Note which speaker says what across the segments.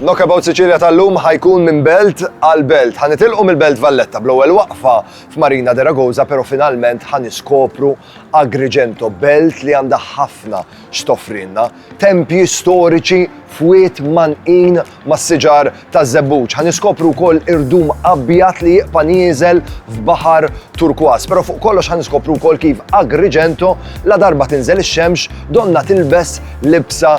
Speaker 1: Knockabout Sicilia tal-lum ħajkun minn belt għal belt. Ħanitilqu mill-belt Valletta bl-ewwel waqfa f'Marina de Ragoza, pero finalment ħaniskopru Agrigento, belt li għandha ħafna x'tofrinna. Tempji storiċi f'wiet manqin mas-siġar ta' żebbuġ. Ħaniskopru wkoll irdum abjad li jiqpa' nieżel f'baħar turkwas. Pero fuq kollox ħaniskopru wkoll kif Agrigento la darba tinżel ix-xemx donna tilbes libsa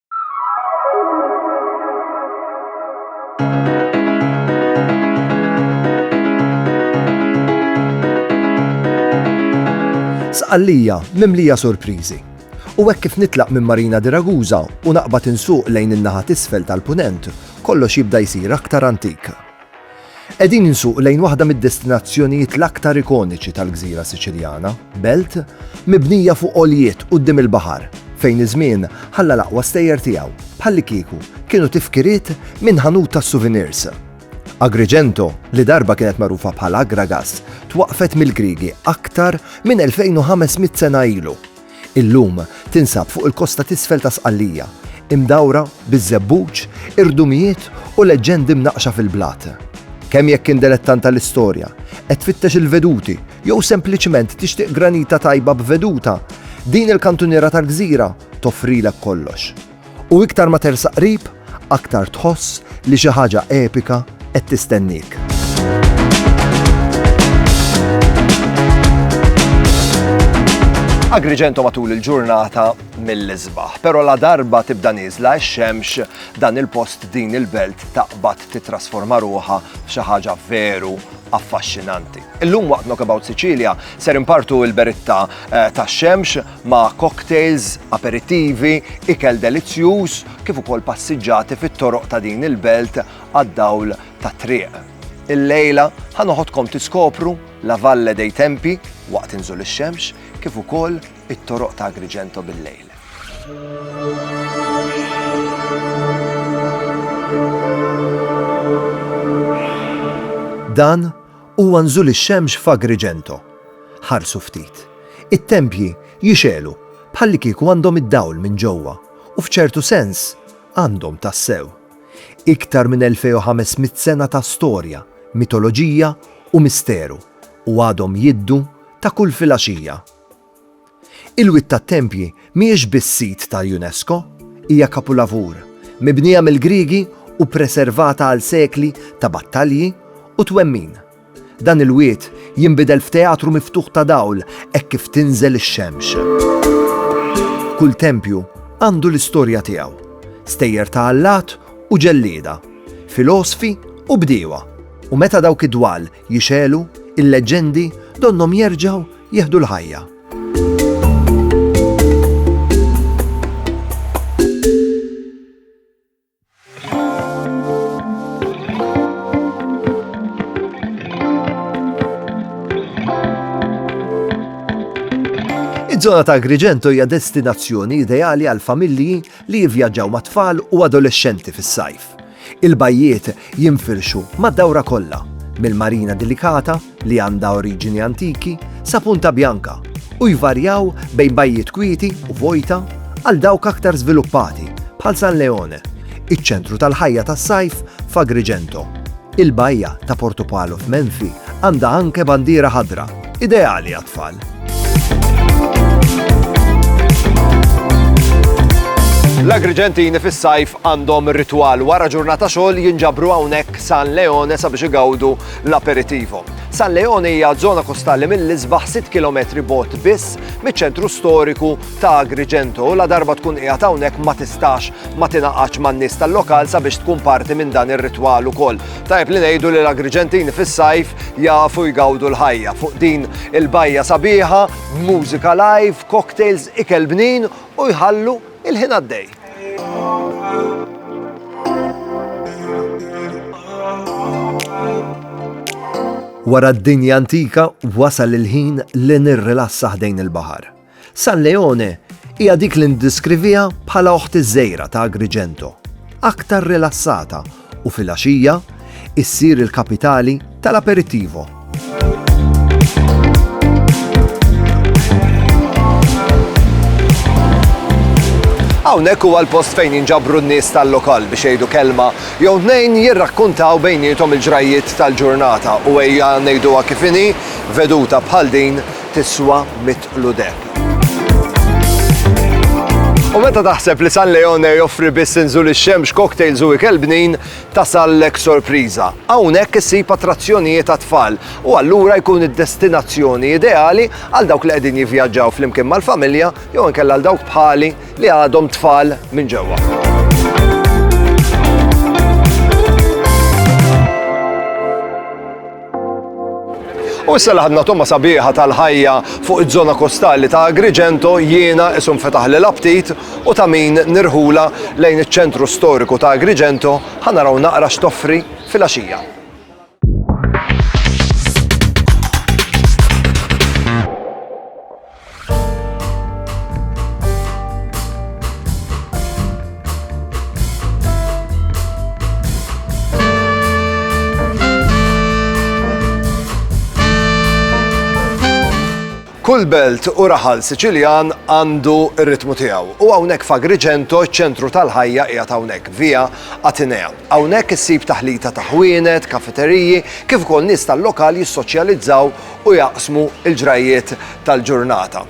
Speaker 1: Sqallija mimlija surpriżi. U hekk kif nitlaq minn Marina di Ragusa u naqbad insuq lejn in-naħa t'isfel tal-Punent, kollox jibda jsir aktar antik. Qegħdin insuq lejn waħda mid-destinazzjonijiet l-aktar ikoniċi tal-gżira Siċiljana, belt mibnija fuq għoljiet quddiem il-baħar, fejn iż-żmien ħalla l-aqwa stejjer tiegħu, bħallikieku kienu tifkiriet minn ħanut tas-souvenirs. Agrigento, li darba kienet magħrufa bħal Agragas, twaqqfet mill-Griegi aktar minn 2,500 sena ilu. Illum tinsab fuq il-kosta t'isfel ta' Sqallija, imdawra biż-żebbuġ, irdumijiet u leġġendi mnaqqxa fil-blat. Kemm jekk int delettant tal-istorja, qed tfittex il-veduti jew sempliċement tixtieq granita tajba b'veduta, din il-kantuniera tal-gżira toffrilek kollox. U iktar ma tersaq qrib, aktar tħoss li xi ħaġa epika qed tistenniek. Agrigento matul il-ġurnata mill-isbaħ, pero la darba tibda niżla x-xemx dan il-post din il-belt taqbad titrasforma ruħa f'xi ħaġa veru affaxxinanti. Illum waqt Knockabout Sicilia ser impartu il-beritta eh, ta' xemx ma' cocktails, aperittivi, ikel delizzjuż kif ukoll passiġġati fit-toroq ta' din il-belt għad-dawl tat-triq. Illejla ħa noħodkom tiskopru La Valle dei Tempi waqt inżul ix-xemx kif ukoll it-toroq ta' Agrigento bil-lejl. Dan Huwa nżul ix-xemx f'Agrigento. Ħarsu ftit. It-tempji jixegħlu bħallikieku għandhom id-dawl minn ġewwa, u f'ċertu sens, għandhom tassew. Iktar minn 2,500 sena ta' storja, mitoloġija u misteru, u għadhom jiddu ta' kull filgħaxija. Il-Wied tat-Tempji mhijiex biss sit tal-UNESCO, hija kapulavur, mibnija mill-Griegi u ppreservata għal sekli ta' battalji u twemmin. Dan il-wied jinbidel f'teatru miftuħ ta' dawl hekk kif tinżel ix-xemx. Kull tempju għandu l-istorja tiegħu, stejjer ta' allat u ġellieda, filosfi u bdiewa, u meta dawk id-dwal Jixegħlu, il-leġġendi donnhom jerġgħu jieħdu l-ħajja. Iż-żona ta' Agrigento hija destinazzjoni ideali għal familji li jivvjaġġaw ma' tfal u adolexxenti fis-sajf. Il-bajjiet jinfirxu mad-dawra kollha, mill-Marina Delicata, li għandha oriġini antiki, sa Punta Bianca, u jvarjaw bejn bajjiet kwieti u vojta għal dawk aktar żviluppati, bħal San Leone, iċ-ċentru tal-ħajja tas-sajf f'Agrigento. Il-bajja ta' Portopalo f'Menfi għandha anke bandiera ħadra. Ideali għat-tfal. L-Agrigentini fis-sajf għandhom ritual wara ġurnata xogħol jinġabru hawnhekk San Leone sabiex igawdu l-aperitivo. San Leone hija żona kostali mill-isbaħ 6 km bot biss miċ-ċentru storiku ta' Agrigento u la darba tkun qiegħed hawnhekk ma tistax ma tingħaqadx man-nies tal-lokal sabiex tkun parti minn dan ir-ritwal ukoll. Tajjeb li ngħidu li l-Agriġentini fis-sajf jafu jgawdu l-ħajja fuq din il-bajja sabiħa, mużika live, cocktails, ikel bnin u jħallu il-ħin għaddej. Wara d-dinja antika wasal il-ħin li nirrilassa ħdejn il-baħar. San Leone hija dik li ndiskrivieha bħala oħt iż-żgħira ta' Agrigento, aktar rilassata u filgħaxija issir il-kapitali tal-aperitivo. Hawnhekk huwa l-post fejn jinġabru n-nies tal-lokal biex jgħidu kelma jew tnejn jirrakkuntaw bejnietom il-ġrajjiet tal-ġurnata u ejja ngħiduha kif inhi veduta bħal din tiswa mitt qludeb. U meta taħseb li San Leone joffri biss inżul ix-xemx, cocktails u ikel bnin, tasallek sorpriża. Hawnhekk issib attrazzjonijiet għat-tfal u allura jkun id-destinazzjoni ideali għal dawk li qegħdin jivvjaġġaw flimkien mal-familja jew inkella għal dawk bħali li għadhom tfal minn ġewwa. U issa laħadna tomma sabiħa tal-ħajja fuq iż-żona kostali ta' Agrigento jiena isum fetaħ li l-aptit u ta' min nirħula lejn iċ-ċentru storiku ta' Agrigento ħanaraw naqra x'toffri fil-għaxija. Kull belt u raħal Siċiljan għandu r-ritmu tiegħu. U hawnhekk f'Agrigento ċ-ċentru tal-ħajja qiegħed hawnhekk via Atenea. Hawnhekk issib taħlita ta' ħwienet, kafeteriji, kif ukoll nies tal-lokal jissoċjalizzaw u jaqsmu l-ġrajjiet tal-ġurnata.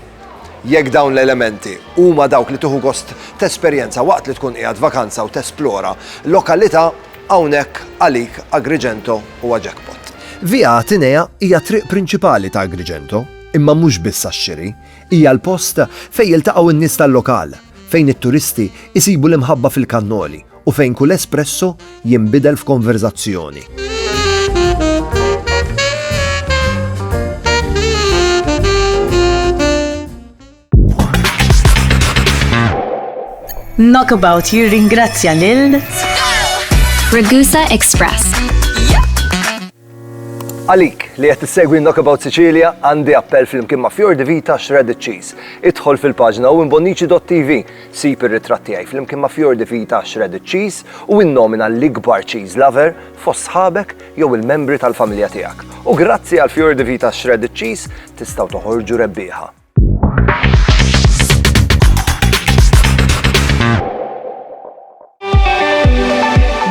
Speaker 1: Jekk dawn l-elementi huma dawk li tieħu gost tesperjenza waqt li tkun qiegħed vakanza u tesplora lokalità, hawnhekk għalik Agrigento huwa jackpot. Via Atenea hija t-triq prinċipali ta' Agrigento, imma mhux biss għax-xiri, hija l-post fejn jiltaqgħu n-nies tal-lokal, fejn it-turisti jsibu l-imħabba fil-kannoli u fejn kull espresso jinbidel f'konverżazzjoni.
Speaker 2: Knockabout jirringrazzja lil
Speaker 3: Ragusa Express
Speaker 1: Għalik li qed issegwi Knockabout Sicilia għandi appell flimkien ma' Fior di Vita Shredded Cheese. Idħol fil-paġna u imbonnici.tv, sib ir-ritratt tiegħi flimkien ma' Fior di Vita Shredded Cheese u innomina l-ikbar cheese lover fost sħabek jew il-membri tal-familja tiegħek. U grazzi għal Fior di Vita Shredded Cheese tistgħu toħorġu rebbieħa.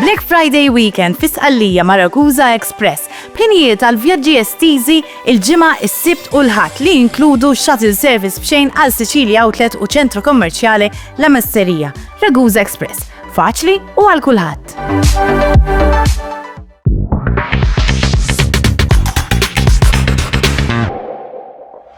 Speaker 4: Black Friday Weekend fi Sqallija Maracusa Express b'ħinijiet għal vjaġġi estiżi il-ġimgħa is-Sibt u l-Ħadd li jinkludu shuttle service b'xejn għal Sicilia Outlet u ċentru kommerċjali La Masserija, Ragusa Express. Faċli u għal kulħadd.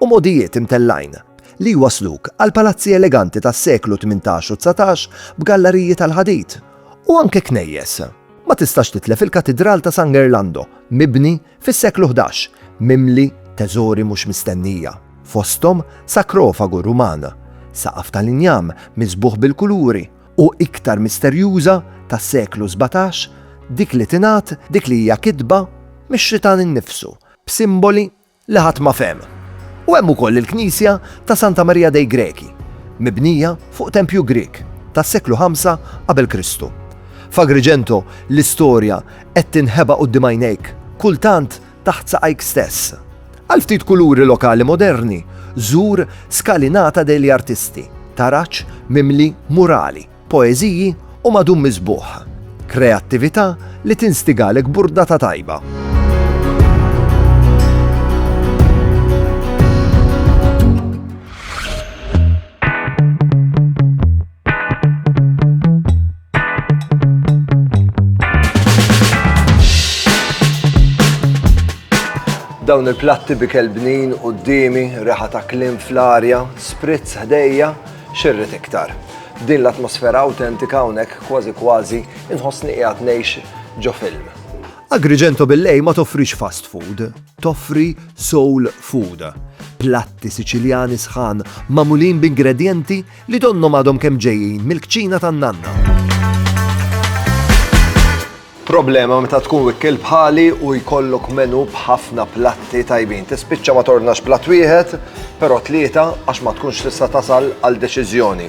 Speaker 1: u mogħdijiet imtellgħin li jwassluk għal palazzi eleganti tas-seklu tmintax u dsatax b'gallariji tal-ħadid, u anke knejjes. Ma tistax titlef il-Katidral ta' San Gerlando, mibni fis-seklu ħdax, mimli teżori mhux mistennija, fosthom sakrofagu Ruman, saqaf tal-injam miżbugħ bil-kuluri, u iktar misterjuża tas-seklu sbatax, dik li tingħad dik li hija kitba mix-xitan innifsu, b'simboli li ħadd ma fehem. U hemm ukoll il-knisja ta' Santa Marija dei Greci, mibnija fuq tempju Grieg tas-seklu ħamsa qabel Kristu. F'Agrigento l-istorja qed tinħeba quddiem għajnejk, kultant taħt saqajk stess. Għal ftit kuluri lokali moderni, żur Scalinata degli Artisti, taraġ mimli murali, Poeżiji huma dum miżbugħ, kreattività li tinstigalek burdata tajba. dawn il-platti bi kelbnin u d-dimi, reħa ta' klim fl-arja, spritz ħdejja, X'irrid iktar? F'din l-atmosfera awtentika hawnhekk kważi kważi inħossni qiegħed ngħix ġo film. Agrigento Billei ma toffrix fast food, toffri soul food. Platti Siċiljani sħan magħmulin b'ingredjenti li donnhom għadhom kemm ġejjin mill-kċina tan-nanna. Problema meta tkun wikkiel bħali u jkollok menù b'ħafna platti tajbin. Tispiċċa ma tordnax platt wieħed, però tlieta għax ma tkunx tista' tasal għal deċiżjoni.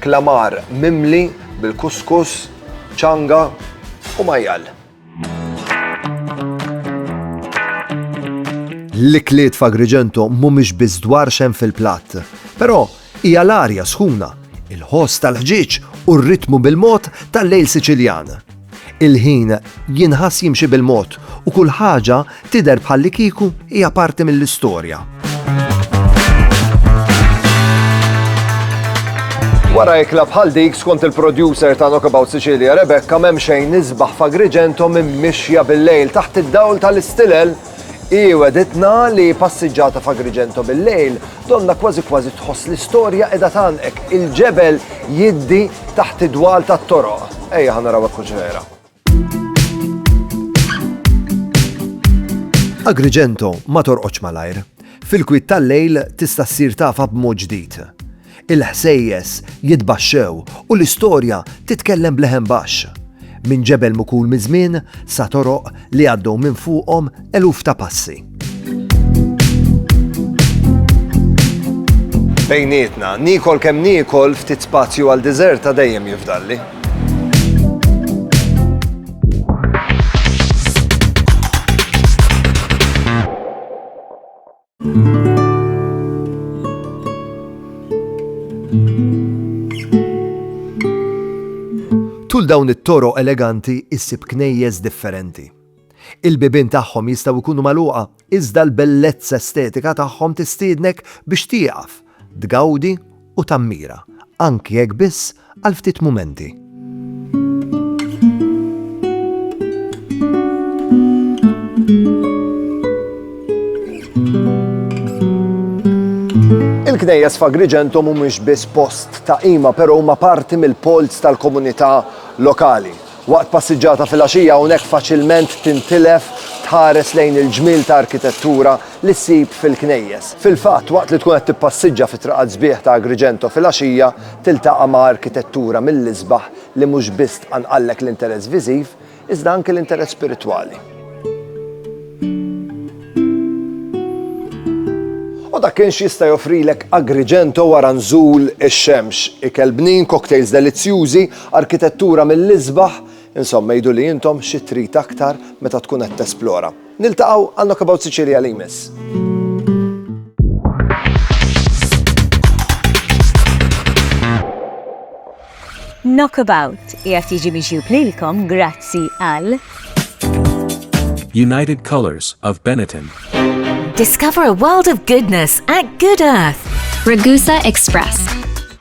Speaker 1: Klamar mimli bil-kuskus, ċanga u majjal. L-ikliet f'Agrigento mhumiex biss dwar x'hemm fil-platt, però Hija l-arja sħuna, il-ħoss tal-ħġieġ u r-ritmu bil-mod tal-lejl Siċiljan. Il-ħin jinħass jimxi bil-mod u kull ħaġa tidher bħallikieku hija parti mill-istorja. Wara ikla bħal dik skont il-producer ta' Knockabout Sicilia Rebecca m'hemm xejn nisbaħ f'Agrigento minn mixja bil-lejl taħt id-dawl tal-istilel Hi wegħditna li passiġġata f'Agrigento bil-lejl, donnha kważi kważi tħoss li storja qiegħda tgħannqek, il-ġebel jiddi taħt id-dwal tat-toroq. Ejja ħa naraw hekk hux vera. Agrigento ma torqodx malajr. Fil-kwiet tal-lejl tista' ssir tafha b'mod ġdid. Il-ħsejjes jitbaxxew u l-istorja titkellem b'leħen baxx. Minn ġebel mukul miż-żmien sa toroq li għaddew minn fuqhom eluf ta' passi. Bejnietna, niekol kemm niekol ftit spazju għal diżert ta' dejjem jifdalli. Tul dawn it-toro eleganti issib knejjes differenti. Il-bibien tagħhom jistgħu jkunu magħluqa iżda l-bellezza estetika tagħhom tistiednek biex tieqaf tgawdi u tammira, anki jekk biss għal ftit mumenti. Il-knejjes f'Agrigento mhumiex biss post ta' qima, però huma parti mill-polz tal-komunità lokali. Waqt passiġġata filgħaxija hawnhekk faċilment tintilef tħares lejn il-ġmiel ta' arkitettura li ssib fil-knejjes. Fil-fatt, waqt li tkun qed tippassiġġa fit-triqat sbieħ ta' Agrigento filgħaxija tiltaqa' ma' arkitettura mill-isbaħ li mhux biss tqanqallek l-interess viżiv, iżda anki l-interess spiritwali. U dak kien x'jista' joffrilek Agrigento wara nżul ix-xemx, ikel bnin, cocktails delizzjużi, Arkitettura mill-isbaħ, insomma għidu li intom xi trid aktar meta tkun qed tesplora. Niltaqgħu għal Knockabout Sicilia li jmiss.
Speaker 2: Knockabout qiegħed jiġi miġjub lilkom grazzi għal
Speaker 5: United Colors of Benetton. Discover
Speaker 6: a world of goodness at Good Earth. Ragusa
Speaker 3: Express